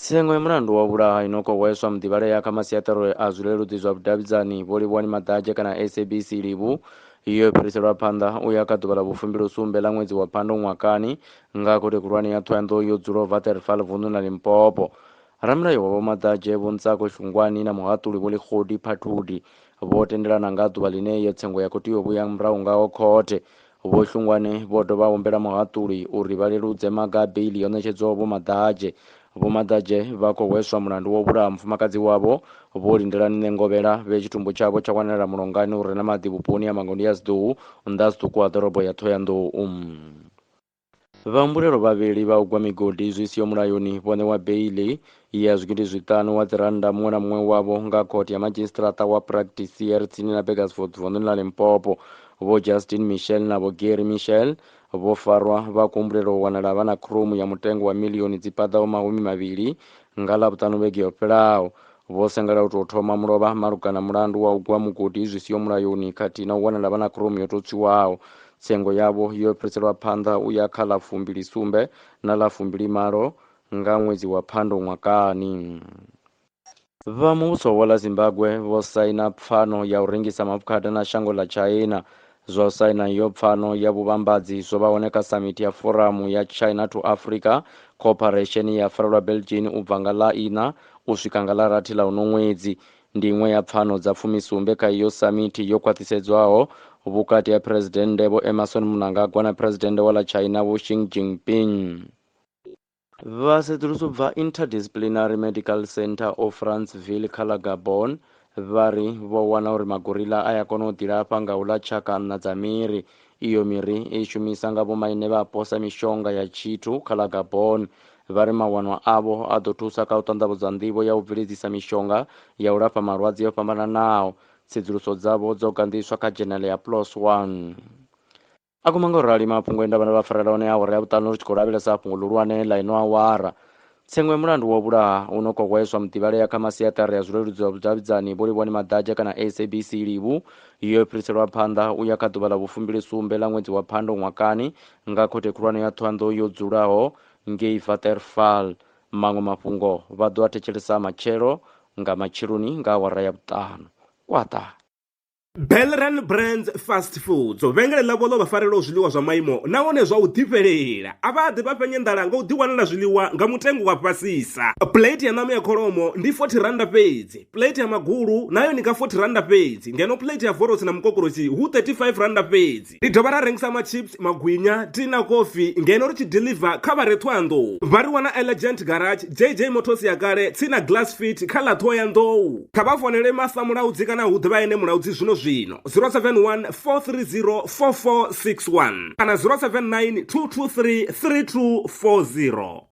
Tsengo ya mulandu wa u vhulaha i no khou hweswa muḓivhalea kha masiaṱari a zwileludzi zwa vhudavhidzani Vho Livhuwani Maḓadzhe kana SABC Livhu yo fhiriselwa phanḓa u ya kha ḓuvha ḽa vhufumbilosumbe ḽa ṅwedzi wa Phando ṅwakani nga Khothe Khulwane ya Thohoyandou yo dzulaho Waterval vunḓuni ḽa Limpopo. Ramulayo wa Vho Maḓadzhe Vho Ntsako Shungwani na muhaṱuli Vho Lekgodi Phathudi vho tendelana nga ha ḓuvha ḽine iyo tsengo ya khou tea u vhuya murahu ngaho khothe Vho Hlungwane vho dovha humbela muhaṱuli uri vha leludze maga a beiḽi yo ṋetshedzwaho Vho Maḓadzhe. Vho Maḓadzhe vha khou hweswa mulandu wa u vhulaha mufumakadzi wavho Vho Lindelani Ṋengovhela vhe tshitumbu tshavho tsha wanala mulongani u re na maḓi vhuponi ha Mangondiyaziḓou, nnḓa zwiṱuku ha ḓorobo ya Ṱhohoyanḓou. Vhahumbulelwa vhavhili vha u gwa migodi zwi siho mulayoni vho ṋewa beiḽi ya zwigidi zwiṱanu wa dzirannda muṅwe na muṅwe wavho nga khothe ya madzhisiṱiraṱa wa Practisier tsini na Burgersfort vunḓuni ḽa Limpopo. Vho Justin Michel na vho Gary Michel vho farwa vha khou humbulelwa u wanala vha na khromu ya mutengo wa milioni dzi paḓaho mahumi mavhili nga Ḽavhuṱanu vhege yo fhelaho. Vho Sengela u tou thoma mulovha malugana mulandu wa u gwa mugodi zwi siho mulayoni khathihi na u wanala vha na khromu yo tou tswiwaho. Tsengo yavho yo fhiriselwa phanḓa u ya kha ḽa fumbili sumbe na ḽa fumbili malo nga ṅwedzi wa Phando ṅwakani. Vha muvhuso wa ḽa Zimbagwe vho saina pfano ya u rengisa maafukhada na shango ḽa Tshaina Zwa u saina iyo pfano ya vhuvhambadzi zwo vha hone kha samithi ya Foramu ya China to Africa Cooperation ye ya farelwa Belgian u bva nga ḽa iṋa u swika nga ḽa rathi ḽa uno ṅwedzi. Ndi iṅwe ya pfano dza fumisumbe kha iyo samithi yo khwaṱhisedzwaho vhukati ha Phresidennde Vho Emmerson Mnangagwa na Phresidennde wa ḽa China Vho Xi Jinping. Vhasedzulusi u bva Interdisciplinary Medical Centre of Franceville kha ḽa Gabon vha ri vho wana uri magorilla a ya kona u ḓilafha nga u ḽa tshaka nṋa dza miri. Iyo miri i shumisa nga vhomaine vhapo sa mishonga ya tshithu kha ḽa Gabon. Vha ri mawanwa avho a ḓo thusa kha u ṱanḓavhudza nḓivho ya u bveledzisa mishonga ya u lafha malwadze o fhambananaho. Tsedzuluso dzavho dzo ganḓiswa kha dzhenele ya PLOS One. A guma nga u rali mafhungo e nda vha ndo vha farela one awara ya vhuṱanu ri tshi khou lavhelesa fhungo ḽihulwane ḽa ino awara. Tsengo ya mulandu wa u vhulaha u no khou hweswa muḓivhalea kha masiaṱari a zwileludzi zwa vhudavhidzani Vho Livhuwani Maḓadzha kana SABC Livhu yo fhiriselwa phanḓa u ya kha ḓuvha ḽa vhufumbilisumbe ḽa ṅwedzi wa Phando ṅwakani nga Khothe Khulwane ya Thohoyandou yo dzulaho ngei Waterval. Maṅwe mafhungo vha ḓo a thetshelesa matshelo nga matsheloni nga awara ya vhuṱanu. Kwaṱa. Belran Brands Fast Foods vhengele ḽavho ḽo vha farelaho zwiḽiwa zwa maimo nahone zwa u ḓifhelela a vha ḓi vha fhenya nḓala nga u ḓiwanela zwiḽiwa nga mutengo wa fhasisa plate ya ṋama ya kholomo ndi 40 randa fhedzi plate ya magulu nayo ni nga 40 randa fhedzi ngeno plate ya vorosi na mukokorosi hu 35 randa fhedzi Ri dovha ra rengisa machips, magwinya, tea na kofi ngeno ri tshi deliver kha vha re Thohoyandou. Vha ri wana Elegant Garage, JJ Motors ya kale, tsini na Glass Fit kha ḽa Thohoyandou. Kha vha founele Masa Mulaudzi kana hu ḓivha ene Mulaudzi zwino zwino 071 430 4461 kana 079 223 3240.